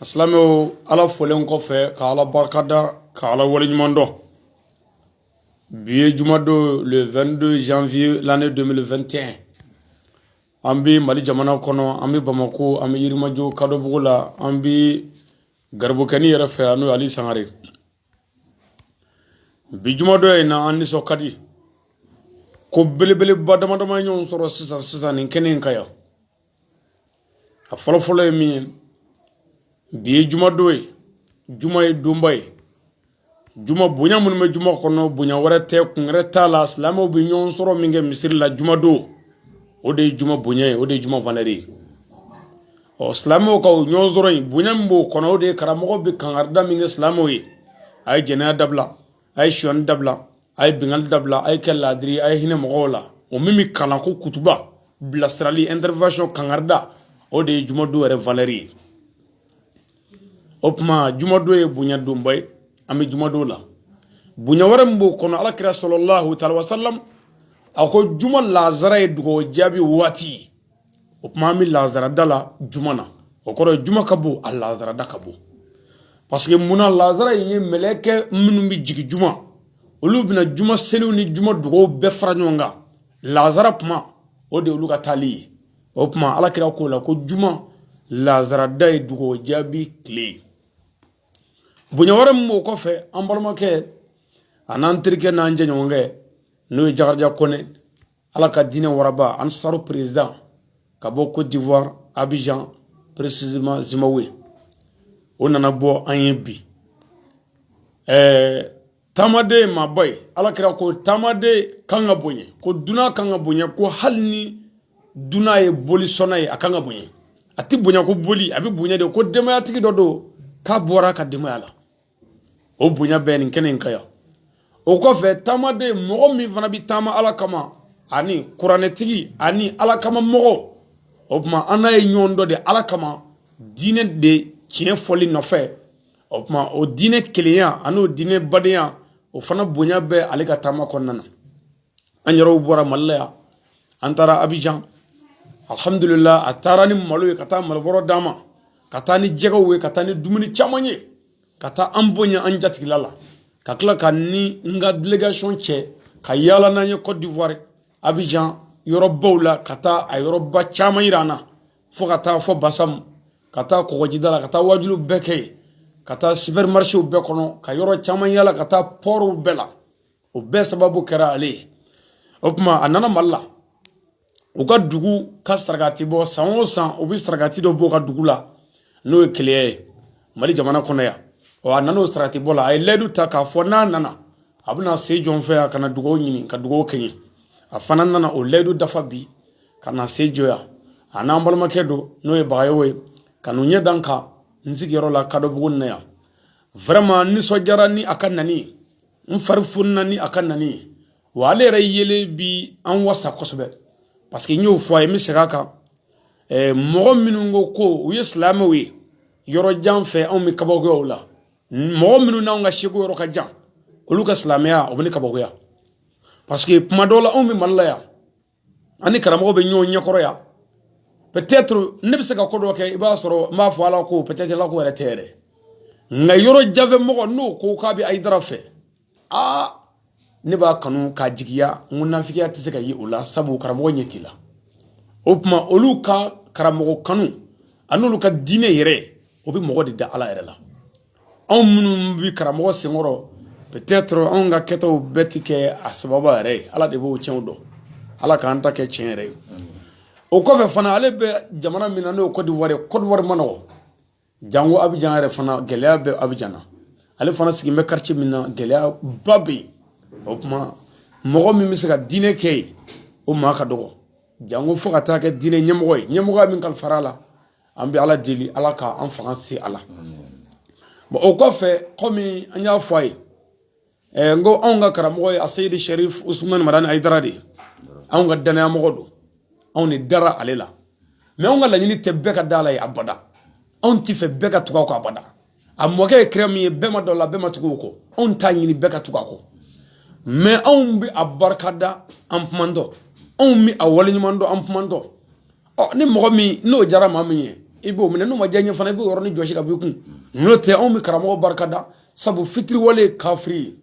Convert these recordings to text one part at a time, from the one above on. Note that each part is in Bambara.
A silamɛw ala fɔlen kɔfɛ ka ala barika da ka ala wale ɲuman dɔn bi ye jumadon le 22 janvier l'année 2021 an bɛ mali jamana kɔnɔ an bɛ bamakɔ an bɛ yirimajɔ kadɔbugu la an bɛ garibukɛnin yɛrɛ fɛ yan n'o ali sangare bi jumadɔ in na an nisɔn ka di ko belebeleba damadama ɲɔgɔn sɔrɔ sisan sisan nin kɛnɛ in kan yan a fɔlɔ fɔlɔ ye min ye bi ye jumadon ye juma ye donba ye juma bonya minnu bɛ juma kɔnɔ bonya wɛrɛ tɛ kun wɛrɛ t'a la silamɛw bɛ ɲɔgɔn sɔrɔ min kɛ misiri la jumadon o de ye juma bonya ye o de ye juma valeur ye ɔ silamɛw ka o ɲɔgɔn sɔrɔ in bonya min b'o kɔnɔ o de ye karamɔgɔ bɛ kankarida min kɛ silamɛw ye a ye jɛnɛya dabila a ye sonya dabila a ye binkali dabila a ye kɛ laadiri a ye hinɛ mɔgɔw la o min bɛ kalan ko kutuba bilasirali intervention kankarida o de ye jumadon yɛrɛ valeur ye o tuma jumadon ye bonya donba ye an bɛ jumadon la bonya wɛrɛ min b'o kɔnɔ ala kira salalahu taala wasalam a ko juma lazara ye dugawu jaabi waati ye o kuma an bɛ lazarada la juma na o kɔrɔ ye juma ka bon a lazarada ka bon paseke munna lazara in ye mɛlɛkɛ minnu bɛ jigin juma olu bɛna juma seliw ni juma dugaw bɛɛ fara ɲɔgɔn kan lazara kuma o de olu ka taali ye o kuma ala kira k'o la ko juma lazarada ye dugawu jaabi tile ye bonya wɛrɛ min b'o kɔfɛ an balimakɛ an'an terikɛ n'an jɛɲɔgɔnkɛ n'o ye jakarija kɔnɛ ala ka diinɛ waraba ansaru perezidan ka bɔ cote d'ivoire abidjan précisément zimbabwe o nana bɔ an ye bi ɛɛ taamaden maaba ye ala kira ko taamaden kan ka bonya ko dunan kan ka bonya ko hali ni dunan ye boli sɔnna ye a kan ka bonya a tɛ bonya ko boli a bɛ bonya de ko denbayatigi dɔ don k'a bɔra a ka denbaya la o bonya bɛ nin kɛnɛ in kan yan o kɔfɛ taamaden mɔgɔ min fana bɛ taama ala kama ani kuranɛtigi ani ala kama mɔgɔ o tuma an n'a ye ɲɔgɔn dɔn de ala kama diinɛ de tiɲɛ fɔli nɔfɛ o tuma o diinɛ kelenya ani o diinɛ badenya o fana bonya bɛ ale ka taama kɔnɔna na an yɛrɛw bɔra mali la yan an taara abijan alihamudulila a taara ni malo ye ka taa malobɔrɔ d'an ma ka taa ni jɛgɛw ye ka taa ni dumuni caman ye ka taa an bonya an jatigila la ka tila ka n ni n ka delegation cɛ ka yaala n'an ye cote d'ivoire abijan yɔrɔbaw la ka taa a yɔrɔba caman yira an na fo ka taa fo basam ka taa kɔgɔjida la ka taa wajuliw bɛɛ kɛ yen ka taa supermarchéw bɛɛ kɔnɔ ka yɔrɔ caman yaala ka taa pɔriw bɛɛ la o bɛɛ sababu kɛra ale ye o tuma a nana mali la u ka dugu ka sarakati bɔ san o san u bɛ sarakati dɔ bɔ u ka dugu la n'o ye keleya ye mali jamana kɔnɔ yan ɔ a nana o sarakati bɔ la a ye layidu ta k'a fɔ n'a nana a bɛna se jɔn fɛ a ka na dugawu ɲini ka dugawu kɛ n ye a fana nana o layidu dafa bi ka na se jɔ yan a n'an balimakɛ dɔ n'o ye bagayogo ye ka n'u ɲɛ da n kan n sigiyɔrɔ la kadɔbugu na yan vraiment n nisɔndiyara ni a ka nani ye n fari fununa ni a ka nani ye wa ale yɛrɛ yelen bi an wasa kosɛbɛ parce que n y'o fɔ a ye n bɛ segin a kan mɔgɔ minnu ko ko u ye silamɛw ye yɔrɔ jan fɛ anw bɛ kabakoya o la mɔgɔ minnu n'anw ka sɛku yɔrɔ ka jan olu ka silamɛya o bɛ ne kabakoya parce que kuma dɔw la anw bɛ mali la yan an ni karamɔgɔ bɛ ɲɔgɔn ɲɛkɔrɔ yan peut-être ne bɛ se ka ko dɔ kɛ i b'a sɔrɔ n b'a fɔ ala ko peut-être ala ko yɛrɛ tɛ yɛrɛ nka yɔrɔ jan fɛ mɔgɔ n'o ko k'a bɛ ayidara fɛ aa ne b'a kanu k'a jigiya n ko nafigiya tɛ se ka ye o la sabu karamɔgɔ ɲɛ t'i la o tuma olu ka karamɔgɔ kanu ani olu ka diinɛ yɛrɛ o bɛ mɔgɔ de da ala yɛrɛ la anw minnu bɛ karamɔgɔ senkɔrɔ peut-être anw ka kɛtaw bɛɛ ti kɛ a sababu yɛrɛ ye ala de b'o tiɲɛw dɔn ala k'an ta kɛ tiɲɛ yɛrɛ ye o kɔfɛ fana ale bɛ jamana min na n'o ye kɔdiwari kɔdiwari man nɔgɔ jango abijan yɛrɛ fana gɛlɛya bɛ abijan na ale fana sigilen bɛ quartier min na gɛlɛyaba bɛ yen o tuma mɔgɔ min bɛ se ka diinɛ kɛ yen o maa ka dɔgɔ jango fo ka taa kɛ diinɛ ɲɛmɔgɔ ye ɲɛmɔgɔya min kalifara a la an bɛ ala deli ala ka an fanga se a la bon o kɔfɛ kɔmi an y'a fɔ a ye eh, n ko anw ka karamɔgɔ ye aseyidi sharif usumani madani ayidara de ye anw ka danayamɔgɔ don anw de dara ale la mais anw ka laɲini tɛ bɛɛ ka da a la ye abada anw t'a fɛ bɛɛ ka tugu a kɔ abada a mɔkɛ ye kira min ye bɛɛ ma d'o la bɛɛ ma tugu o kɔ anw t'a ɲini bɛɛ ka tugu a kɔ mais anw bɛ a barika da an kumantɔ anw bɛ a waleɲuman dɔn an kumantɔ ɔ ni mɔgɔ min n'o diyara maa min ye i b'o minɛ n'o ma diya i ye fana i b'o yɔrɔnin jɔsi k'a b'i kun n'o tɛ anw bɛ karamɔgɔ barika da sabu fitiriwale ye kafiri ye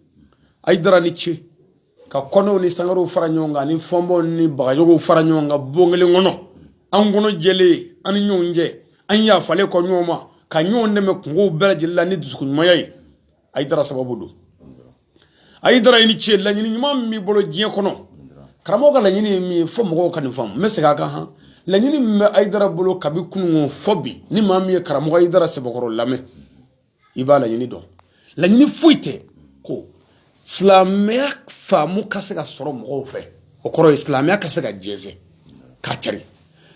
ayidara i ni ce ka kɔnɛw ni sangarew fara ɲɔgɔn kan ani fɔnbaw ni bagayogow fara ɲɔgɔn kan bon kelen kɔnɔ an kɔnɔ jɛlen an ni ɲɔgɔn cɛ an yafalen kɔ ɲɔgɔn ma ka ɲɔgɔn dɛmɛ kunkow bɛɛ lajɛlen la ni dusukun ɲumanya ye ayidara sababu don ayidara i ni ce laɲini ɲuman min b'i bolo diɲɛ kɔnɔ karamɔgɔ ka laɲini ye min ye fo mɔgɔw ka nin faamu n bɛ segin a kan han laɲini min bɛ ayidara bolo kabi kununko fo bi ni maa min ye karamɔgɔ ayidara sɛbɛkɔrɔ lamɛn i b'a laɲini dɔn laɲini foyi tɛ ko silamɛya faamu ka se ka sɔrɔ mɔgɔw fɛ o kɔrɔ ye silamɛya ka se ka jɛnsɛn ka cari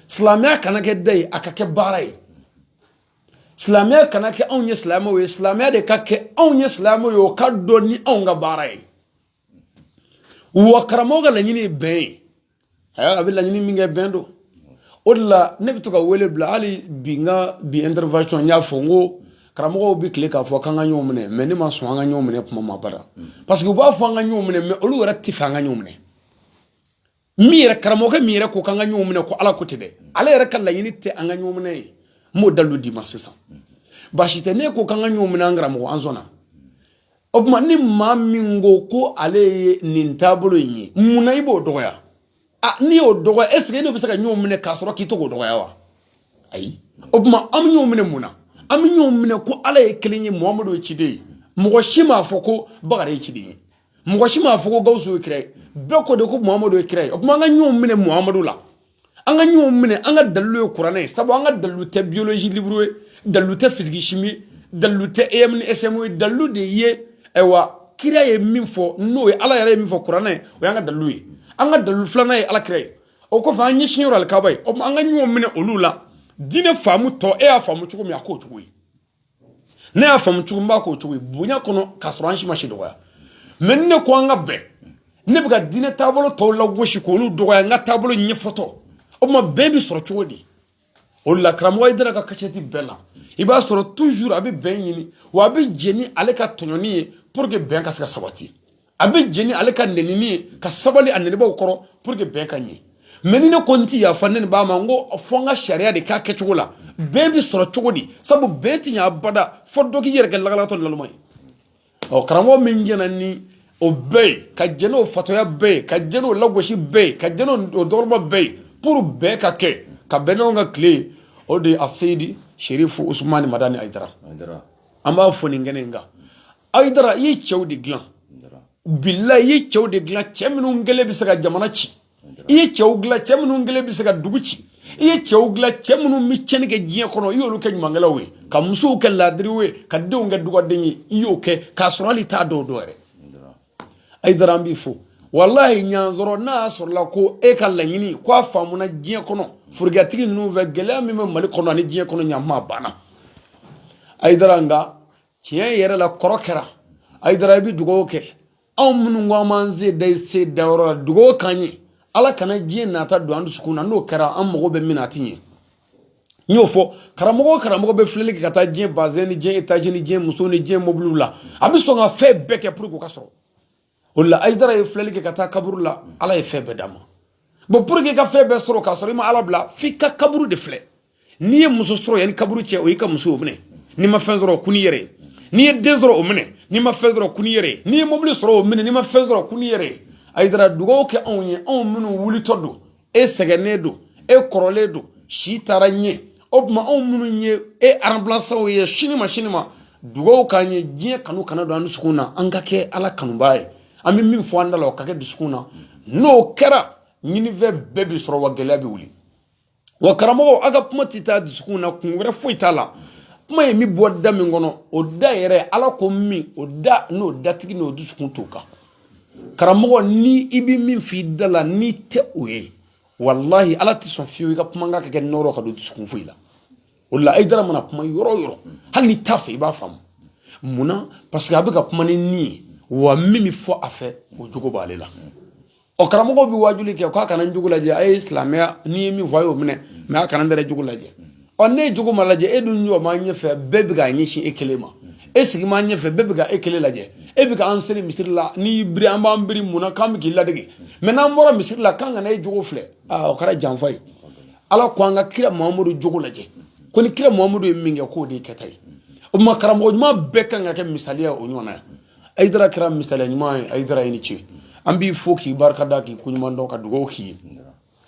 silamɛya kana kɛ da ye a ka kɛ baara ye silamɛya kana kɛ anw ye silamɛw ye silamɛya de ka kɛ anw ye silamɛw ye o ka dɔn ni anw ka baara ye wa karamɔgɔ ka laɲini ye bɛn ye aya a bɛ laɲini min kɛ bɛn don o de la ne bɛ to ka wele bila hali bi n ka bi intervention n y'a fɔ n ko karamɔgɔw bɛ tile k'a fɔ k'an ka ɲɔgɔn minɛ mais ne ma sɔn an ka ɲɔgɔn minɛ kuma ma bada parce que u b'a fɔ an ka ɲɔgɔn minɛ mais olu yɛrɛ tɛ fɛ an ka ɲɔgɔn minɛ min yɛrɛ karamɔgɔkɛ min yɛrɛ ko k'an ka ɲɔgɔn minɛ ko ala ko tɛ dɛ ale yɛrɛ ka laɲini tɛ an ka ɲɔgɔn minɛ ye n b'o dalilu d'i ma sisan baasi tɛ ne ko k'an ka ɲɔgɔn minɛ an karamɔgɔ an sɔnna o tuma ni maa min ko ko ale ye nin taabolo in ye mun na i b'o dɔgɔya a n'i y'o dɔgɔya est ce que e n'o bɛ se ka ɲɔgɔn minɛ k'a sɔrɔ k'i to k'o dɔgɔya wa ayi o tuma an bɛ ɲɔgɔn minɛ mun na an bɛ ɲɔgɔn minɛ ko ala ye kelen ye muhamadu ye ciden ye mɔgɔ si m'a fɔ ko bakari ye ciden ye mɔgɔ si m'a fɔ ko gawusu ye kira ye bɛɛ ko de ko muhamadu ye kira ye o tuma an ka ɲɔgɔn minɛ muhamadu la an ka ɲɔgɔn minɛ an ka dalilu ye kuranɛ ye sabu an ka dalilu tɛ biologie livre ye dalilu tɛ physique chimie ye dalilu tɛ em ni sm ye dalilu de ye ayiwa kira ye min fɔ n'o ye ala yɛrɛ ye min fɔ kuranɛ o y'an ka dalilu ye an ka dalilu filanan ye ala kira ye o kɔfɛ an ɲɛsin yɔrɔ alikaba ye o tuma an ka ɲɔgɔn minɛ olu la diinɛ faamutɔ e y'a faamu cogo min a k'o cogo ye ne y'a faamu cogo min n b'a k'o cogo ye bonya kɔnɔ k'a sɔrɔ an si ma si dɔgɔya mais ni ne ko an ka bɛn ne bɛ ka diinɛ taabolo tɔw lagosi k'olu dɔgɔya n ka taabolo ɲɛfɔtɔ o tuma bɛn bɛ sɔrɔ cogo di o la karamɔgɔ ayidara ka kasɛti bɛɛ la i b'a sɔrɔ toujours a bɛ bɛn ɲini wa a bɛ jɛ ni ale ka tɔɲɔni ye pour que bɛn ka se ka sabati a bɛ jɛ ni ale ka nɛnini ye ka sabali a nɛnibaaw kɔrɔ pour que bɛn ka ɲɛ mais ni ne ko n ti yafa ne b'a ma n ko fɔ n ka sariya de k'a kɛcogo la bɛn bɛ sɔrɔ cogo di sabu bɛn ti ɲa abada fɔ dɔ k'i yɛrɛ kɛ lagalatɔ laluma ye ɔ karamɔgɔ min jɛna ni o bɛɛ ye ka jɛ n'o fatɔya bɛɛ ye ka jɛ n'o lagosi bɛɛ ye ka jɛ n'o dɔgɔya bɛɛ ye pour bɛn ka kɛ ka bɛn n'anw ka tile ye o de ye a seyidi serifu usumani madani ayidara an b'a fɔ nin kɛnɛ in kan ayidara i ye cɛw de dilan bilahi i ye cɛw de dilan cɛ minnu kelen bɛ se ka jamana ci i ye cɛw dilan cɛ minnu kelen bɛ se ka dugu ci i ye cɛw dilan cɛ minnu bɛ tiɲɛni kɛ diɲɛ kɔnɔ i y'olu kɛ ɲumankɛlaw ye ka musow kɛ laadiriw ye ka denw kɛ dugawuden ye i y'o kɛ k'a sɔrɔ hali i t'a dɔw dɔn yɛrɛ ayidara an b'i fo walahi n'a y'a sɔrɔ n'a y'a sɔrɔla ko e ka laɲini ko a faamuna diɲɛ kɔnɔ forokiyatigi ninnu fɛ gɛlɛya min bɛ mali kɔnɔ ani diɲɛ kɔnɔ ɲanma banna ayidara nka tiɲɛ yɛrɛ la kɔrɔ kɛra ayidara i bɛ dugawu kɛ anw minnu ko an b'an sen da i sen da yɔrɔ la dugawu k'an ye ala kana diɲɛ nata don an dusukun na n'o kɛra an mago bɛ min na a ti ɲɛ n y'o fɔ karamɔgɔ o karamɔgɔ bɛ filɛli kɛ ka taa diɲɛ bazɛn ni diɲɛ etazi ni diɲɛ muso ni diɲɛ mobiliw la a bɛ sɔn ka fɛn bɛɛ kɛ pour que o ka sɔrɔ o la ayidara ye filɛli kɛ ka taa kaburu la ala ye fɛn bɛɛ d'a ma bon pour que i ka fɛn bɛɛ sɔrɔ k'a sɔrɔ i ma ala bila f'i ka kaburu de filɛ n'i ye muso sɔrɔ yanni kaburu cɛ o y'i ka muso o minɛ n'i ma fɛn sɔrɔ kun yɛrɛ ye n'i ye den sɔrɔ o minɛ n'i ma fɛn sɔrɔ kun yɛrɛ ye n'i ye mobili sɔrɔ o minɛ n'i ma fɛn sɔrɔ kun yɛrɛ ye ayidara dugawu kɛ anw ye anw minnu wulitɔ don e sɛgɛnnen don e kɔrɔlen don si taara ɲɛ o tuma anw minnu ye e remplaçantw ye sini ma sini ma dugawu k'an ye diɲɛ kanu kana don an dusukun na an ka kɛ ala kanubaa ye an bɛ min fɔ an da la o ka kɛ dusukun na n'o kɛra ɲinifɛn bɛɛ bɛ sɔrɔ wa gɛlɛya bɛ wuli wa karamɔgɔ aw ka kuma tɛ taa dusukun na kun wɛrɛ foyi t'a la kuma in bɛ bɔ da min kɔnɔ o da yɛrɛ ala ko min o da n'o datigi n'o dusukun t'o kan karamɔgɔ ni i bɛ min f'i da la n'i tɛ o ye walahi ala tɛ sɔn fiyewu i ka kumakan ka kɛ nɔrɔ ka don dusukun foyi la o la ayidara mana kuma yɔrɔ o yɔrɔ hali n'i t'a fɛ i b'a faamu munna parce que a bɛ ka kuma ni ni ye wa min bɛ fɔ a fɛ o jogo b'ale la ɔ karamɔgɔ bɛ waajuli kɛ k'a kana n jogo lajɛ a ye silamɛya ne ye min fɔ a y'o minɛ mais a kana n yɛrɛ jogo lajɛ ɔ ni e jogo ma lajɛ e dun jɔ maa ɲɛfɛ bɛɛ bɛ k'a ɲɛsin e kelen ma e sigi maa ɲɛfɛ bɛɛ bɛ ka e kelen lajɛ e bɛ k'an seri misiri la n'i y'i biri an b'an biri mun na k'an bɛ k'i ladege mais n'an bɔra misiri la k'an kana e jogo filɛ aa o kɛra janfa ye ala ko an ka kira mahamadu jogo lajɛ ko ni kira mahamadu ye min kɛ k'o de ye kɛta ye o tuma karamɔgɔ ɲuman bɛɛ kan ka kɛ misaliya o ɲɔgɔnna ye ayidara kɛra misaliya ɲuman ye ayidara i ni ce an b'i fo k'i barikada k'i koɲuman dɔn ka dugawu k'i ye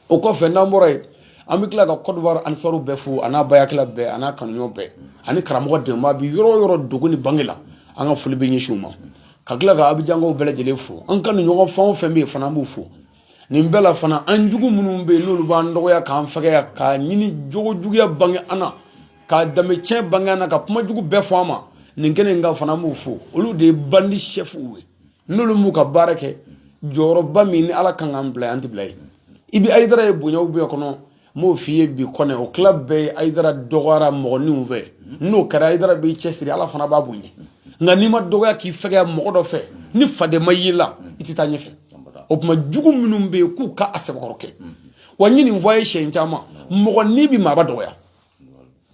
o kɔfɛ n'an bɔra yen an bɛ tila ka kɔdiwari anisaru bɛɛ fo a n'a bayakila bɛɛ a n'a kanuɲɔgɔn bɛɛ ani karamɔgɔ dɛmɛbaa bɛ yɔrɔ o yɔrɔ dogo ni bange la an ka foli bɛ ɲɛsin u ma ka tila ka abijankaw bɛɛ lajɛlen fo an kanuɲɔgɔn fɛn o fɛn bɛ yen fana an b'u fo nin bɛɛ la fana an jugu minnu bɛ yen n'olu b'an dɔgɔya k'an fɛgɛya k'an nɛni jogo juguya bange an na ka danbe tiɲɛ bange an na ka kuma jugu bɛɛ fɔ an ma nin kɛnɛ in kan fana an b'u fo olu de ye bandi sɛfuw ye n'olu m'u ka baara kɛ jɔyɔrɔba min ni ala kan k'an bila an tɛ bila yen i bɛ ayidara ye bonyaw bɛɛ kɔnɔ n b'o f'i ye bi kɔnɛ o tila bɛɛ ye ayidara dɔgɔyara mɔgɔninw fɛ n'o kɛra ayidara b'i cɛsiri ala fana b'a bonya nka n'i ma dɔgɔya k'i fɛgɛya mɔgɔ dɔ fɛ ni faden ma y'i la i tɛ taa ɲɛfɛ o tuma jugu minnu bɛ yen k'u ka a sɛbɛkɔrɔ kɛ wa n ye nin fɔ a ye siɲɛ caman mɔgɔnin bɛ maaba dɔgɔya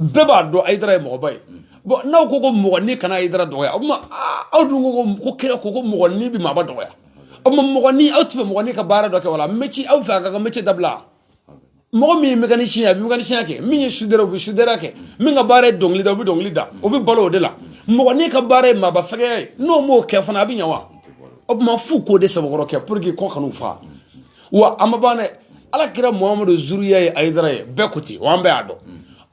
bɛɛ b'a dɔn ayidara ye mɔgɔba ye bon n'aw ko ko mɔgɔnin kana ayidara dɔgɔya o tuma aw dun ko ko kira ko ko mɔgɔnin bɛ maaba dɔgɔya o tuma mɔgɔnin aw t'a fɛ mɔgɔnin ka baara dɔ kɛ wala métier aw fɛ a k'a ka métier dabila mɔgɔ min ye mécanicien ye a bɛ mécanicien kɛ min ye soudeur o bɛ soudeur kɛ min ka baara ye dɔnkili da o bɛ dɔnkili da o bɛ balo o de la mɔgɔnin ka baara ye maaba fɛgɛya ye n'o m'o kɛ fana a bɛ ɲɛ wa o tuma f'u k'o de sɛbɛkɔrɔ kɛ pour que kɔngɔ kan'u fa wa an ma ban dɛ ala kira muhamadu zuriya ye ayidara ye bɛɛ ko ten wa an bɛɛ y'a dɔn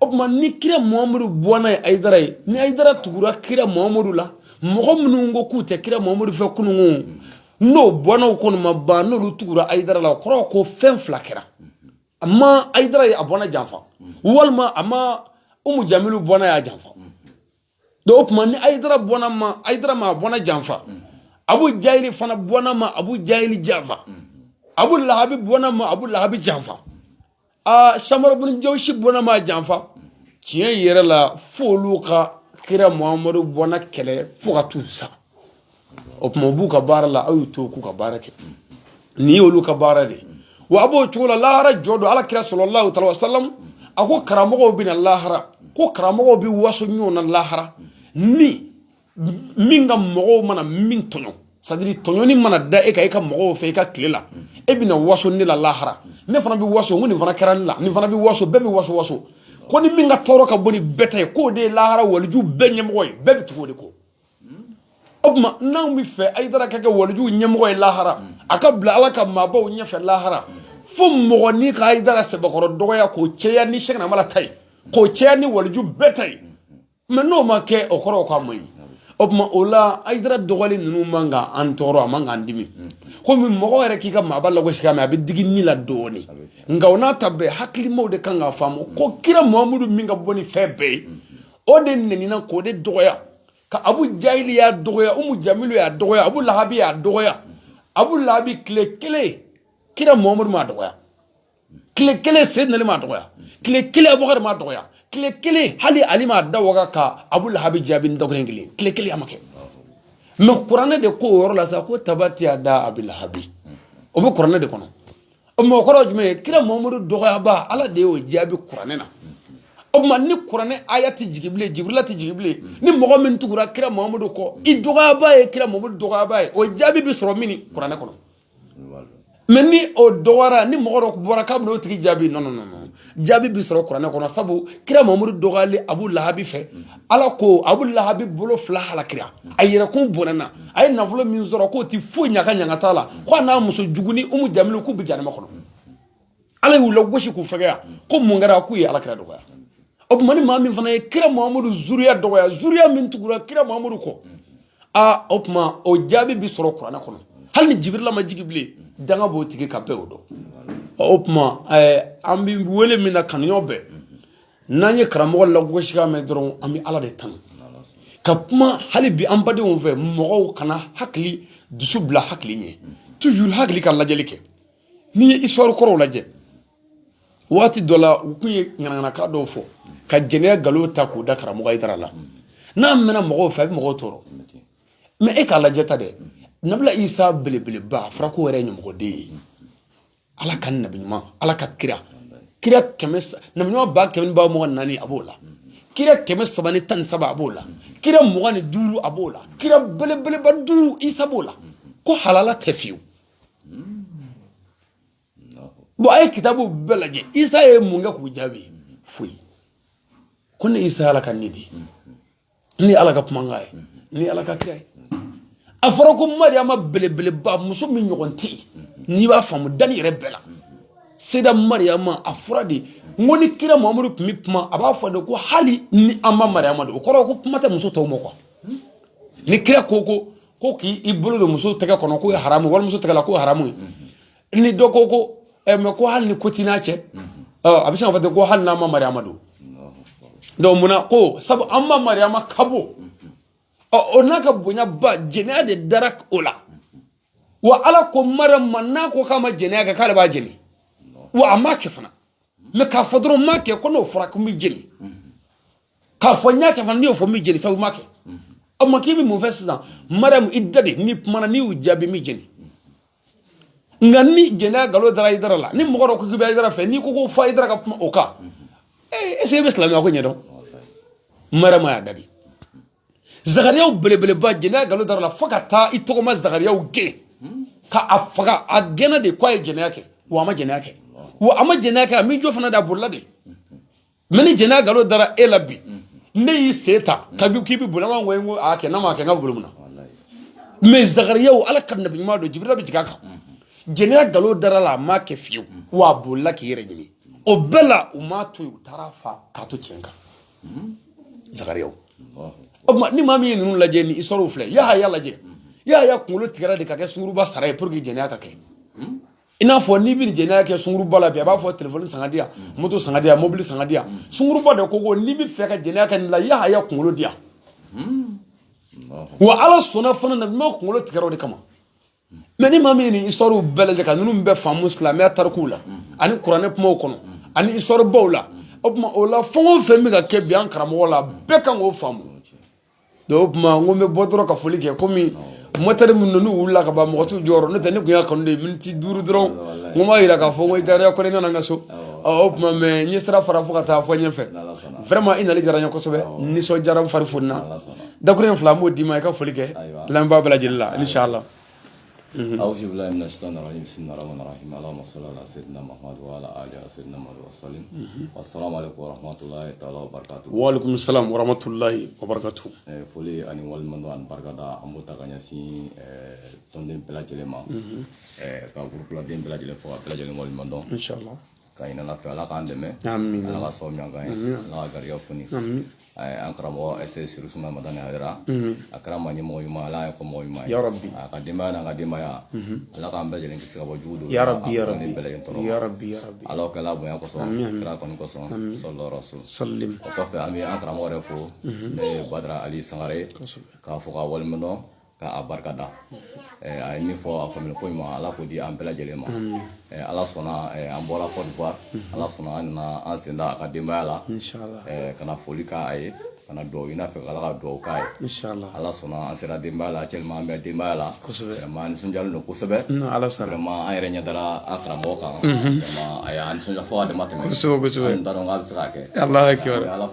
o tuma ni kira muhamadu bɔnna ye ayidara ye ni ayidara tugura kira muhamadu la mɔgɔ minnu ko k'u tɛ kira muhamadu fɛ kununko n'o bɔnnaw kɔni ma ban n'olu tugura ayidara la o kɔrɔ ko fɛn fila kɛra a ma ayidara ye a bɔnna janfa walima a ma umu jamilu bɔnna y'a janfa dɔnki o tuma ni ayidara ma a bɔnna janfa abu jahili fana bɔnna ma abu jahili janfa abu lahabi bɔnna ma abu lahabi janfa aa samara buni jawusi bɔnna ma janfa tiɲɛ yɛrɛ la f'olu ka kira muhamadu bɔnna kɛlɛ fo ka t'u sa o tuma u b'u ka baara la aw y'u to k'u ka baara kɛ nin y'olu ka baara de ye wa a b'o cogo la lahara jɔ don ala kira sɔlɔlahu taala wasalam a ko karamɔgɔw bɛ na lahara ko karamɔgɔw bɛ waso ɲɔgɔn na lahara ni min ka mɔgɔw mana min tɔɲɔ sadiri tɔɲɔni mana da e ka e ka mɔgɔw fɛ i ka tile la e bɛna waso ne la lahara ne fana bɛ waso n ko nin fana kɛra ne la nin fana bɛ waso bɛɛ bɛ waso waso ko ni min ka tɔɔrɔ ka bon ni bɛɛ ta ye k'o de ye lahara waliju bɛɛ ɲɛmɔgɔ ye bɛɛ bɛ tugu o de kɔ o tuma n'anw b'a fɛ ayidara ka kɛ walijuw ɲɛmɔgɔ ye lahara a ka bila ala ka maabaw ɲɛfɛ lahara fo mɔgɔnin ka ayidara sɛbɛkɔrɔ dɔgɔya k'o caya ni sɛkina amala ta ye k'o caya ni waliju bɛɛ ta ye mɛ n'o ma kɛ o kɔrɔ k'a man ɲi o tuma o la ayidara dɔgɔyali ninnu man kan an tɔɔrɔ a man kan dimi komi mɔgɔ yɛrɛ k'i ka maaba lagosi k'a mɛ a bɛ digi ni la dɔɔni nka o n'a ta bɛɛ hakilimaw de kan k'a faamu ko kira muhamadu min ka bon ni fɛn bɛɛ ye o de nenina k'o de dɔgɔya ka abu jahili y'a dɔgɔya umu jamilu y'a dɔgɔya abu lahabi y'a dɔgɔya abu lahabi tile kelen kira muhamadu m'a dɔgɔya tile kelen seydina ali m'a dɔgɔya tile kelen abubakari m'a dɔgɔya tile kelen hali ali m'a da waga ka abu lahabi jaabi ni dɔgɔyali kelen tile kelen a ma kɛ mɛ kuranɛ de ko o yɔrɔ la sa ko tabati yada abu lahabi o bɛ kuranɛ de kɔnɔ o mɔgɔ kɔrɔ jumɛn ye kira muhamadu dɔgɔyaba ala de y'o jaabi kuranɛ na o tuma ni kuranɛ aya tɛ jigin bilen jibirila tɛ jigin bilen ni mɔgɔ min tugura kira muhamadu kɔ i dɔgɔyaba ye kira muhamadu dɔgɔyaba ye o jaabi bɛ sɔrɔ min kuranɛ kɔnɔ mɛ ni o dɔgɔyara ni mɔgɔ dɔ bɔra k'a bɛna o tigi jaabi nɔn nɔn jaabi bi sɔrɔ kuranɛ kɔnɔ sabu kira muhamadu dɔgɔyali abu lahabi fɛ ala ko abu lahabi bolo fila halakira a yɛrɛkun bɔnɛna a ye nafolo min sɔrɔ k'o ti foyi ɲaga ɲaga t'a la ko a n'a muso jugunin umu jamilu k'u bi janama kɔnɔ ala y'u lagosi k'u fɛgɛya ko mun kɛra k'u ye ala kira dɔgɔya o tuma ni maa min fana ye kira muhamadu zuriya dɔgɔya zuriya min tugura kira muhamadu kɔ aa o tuma o jaabi bi sɔrɔ kuranɛ kɔnɔ hali ni jibirila ma jigi bilen danga b'o tigi kan bɛɛ o dɔn o tuma an bɛ wele min na kanuɲɔgɔn bɛɛ n'an ye karamɔgɔ lagosikan mɛn dɔrɔn an bɛ ala de tanu ka kuma hali bi an badenw fɛ mɔgɔw kana hakili dusu bila hakili ɲɛ toujours hakili ka lajɛli kɛ n'i ye histoire kɔrɔw lajɛ waati dɔ la u tun ye ŋanaŋanakan dɔw fɔ ka jɛnɛya nkalon ta k'o da karamɔgɔ ayidara la n'a mɛnna mɔgɔw fɛ a bɛ mɔgɔw tɔɔrɔ mais e k'a lajɛ ta dɛ nabila isa belebeleba a fɔra k'o yɛrɛ ye ɲamɔgɔden ye ala ka nabi ɲuman ala ka kira kira kɛmɛ nabi ɲuman ba kɛmɛ ni ba mugan naani a b'o la kira kɛmɛ saba ni tan ni saba a b'o la kira mugan ni duuru a b'o la kira belebeleba duuru isa b'o la ko halala tɛ fiyewu bon a ye kitabu bɛɛ lajɛ isa ye mun kɛ k'u jaabi foyi ko ne isa ala ka ne di ni ala ka kumakan ye ni ala ka kira ye a fɔra ko mariyama belebeleba muso min ɲɔgɔn tɛ yen n'i b'a faamu danni yɛrɛ bɛɛ la seda mariyama a fɔra de n ko ni kira mamadu tun bɛ kuma a b'a fɔ de ko hali ni an ma mariyama de o kɔrɔ ko kuma tɛ muso tɔw ma quoi ni kira ko ko ko k'i bolo don muso tɛgɛ kɔnɔ k'o ye haramu wali muso tɛgɛ la k'o ye haramu ye ni dɔ ko ko ɛ mais ko hali ni ko t'i n'a cɛ a bɛ se k'a fɔ ten ko hali n'an ma mariama don donc mun na ko sabu an ma mariama ka bon ɔ o n'a ka bonyaba jɛnɛya de dara o la wa ala ko mariam ma n'a ko k'a ma jɛnɛya kɛ k'ale b'a jeni wa a m'a kɛ fana mais k'a fɔ dɔrɔn n m'a kɛ ko n'o fɔra ko n b'i jeni k'a fɔ n y'a kɛ fana n'i y'o fɔ n b'i jeni sabu i m'a kɛ o ma k'i bɛ mun fɛ sisan mariyamu i da de n'i kumana n'i y'u jaabi n b'i jeni nka ni jɛnɛya nkalon dara ayidara la ni mɔgɔ dɔ ko k'i bɛ ayidara fɛ n'i ko ko fo ayidara ka kuma o kan ee est ce que i bɛ silamɛya ko ɲɛdɔn mariyamu y'a da de zakariyaw belebeleba jɛnɛya nkalon dara a la fo ka taa i tɔgɔma zakariyaw gɛn ka a faga a gɛnna de k'a ye jɛnɛya kɛ wa a ma jɛnɛya kɛ wa a ma jɛnɛya kɛ a m'i jɔ fana de a bolila de mais ni jɛnɛya nkalon dara e la bi n'e y'i sen ta k'i bɛ boli an b'a fɔ ko a kɛ n'a ma kɛ n ka boli mun na mais zakariyaw ala ka nabi ɲuman don jibirila bɛ jigin a kan jɛnɛya nkalon dara a la a m'a kɛ fiyewu wa a bolila k'i yɛrɛ ɲini o bɛɛ la u m'a to yen u taara a faga k'a to tiɲɛ kan zakariyaw o tuma ni maa min ye ninnu lajɛ ni histoire filɛ yahaya lajɛ yahaya kunkolo tigɛra de ka kɛ sunguruba sara ye pour que jɛnɛya ka kɛ i n'a fɔ n'i bɛ jɛnɛya kɛ sunguruba la bi a b'a fɔ telefɔni san k'a di yan mm. moto san k'a di yan mobili san k'a di yan mm. sunguruba de ko ko n'i b'a fɛ ka jɛnɛya kɛ nin la yahaya kunkolo di yan mm. wa ala sɔnna fana nabi ɲuman kunkolo tigɛra o de kama mais ni maa min ye nin histoire bɛɛ lajɛ ka ninnu bɛɛ faamu silamɛya tarikuw la ani kuranɛ kumaw kɔnɔ ani histoire baw la o tuma o la fɛn o fɛn bɛ ka kɛ bi an karamɔgɔ la bɛɛ kan k'o faamu o tuma n ko n bɛ bɔ dɔrɔn ka foli kɛ komi mɔtɛri minnu wulila ka ban mɔgɔ t'u jɔyɔrɔ n'o tɛ ne tun y'a kanu de miniti duuru dɔrɔn n ko n b'a yira k'a fɔ n ko i taara kɔni nana n ka so o tuma mais n ye sira fara fo ka taa fo ɲɛfɛ vraiment i nali diyara n ye kosɛbɛ nisɔndiyara n fari fonina dakuruɲɛ fila n b'o d'i ma i ka foli kɛ lamɛnbaa bɛɛ lajɛlen la inshallah Mm-hmm. Awuzu bilahi mina sayitani rajimi bisimilahi rahamani rahimi alahuma sali ala seyidina mahamadu wa ala ali seyidina mahamadu wa salimu mm-hmm. asalamu alekumu wa rahamatulayi taala wa barikatu wa alekumu salamu wa rahamatulayi wa barikatu foli ani waleɲumandɔn ani barikada an b'o ta ka ɲɛsin tɔnden bɛɛ lajɛlen ma mm-hmm. ka gurupuladen bɛɛ lajɛlen fo ka bɛɛ lajɛlen waleɲuman dɔn k'a ɲini ala fɛ ala k'an dɛmɛ ala k'an sɔn ɲɔgɔn ye ala ka garijɛgɛ foni an karamɔgɔ seyidi serifu usumani madani hayidara a kɛra ma ɲɛmɔgɔ ɲuman ala ye kɔmɔgɔ ɲuman ye yarabi a ka denbaya n'an ka denbaya ala k'an bɛɛ lajɛlen kisi ka bɔ jugu don yarabi yarabi bɛɛ lajɛlen tɔɔrɔ yarabi yarabi ala kɛla bonya kosɔn kira kanu kosɔn salalahu alayihi wa salamu o kɔfɛ an bɛ an karamɔgɔ yɛrɛ fo ne ye badara ali sangare k'a fo k'a waleɲuman dɔn ka a barika da a ye min fɔ a faamuya koɲuman ala k'o di an bɛɛ lajɛlen ma ala sɔnna an bɔra kɔdiwari ala sɔnna an nana an sen da a ka denbaya la ka na foli k'a ye ka na dugawu ɲini a fɛ ala ka dugawu k'a ye ala sɔnna an sera denbaya la cɛ an bɛ denbaya la an nisɔndiyalen don kosɛbɛ ala sɔnna a ma an yɛrɛ ɲɛ dara an karamɔgɔ kan a y'an nisɔndiya fo a dama tɛmɛ kosɛbɛ kosɛbɛ n t'a dɔn k'a bɛ se k'a kɛ ala ala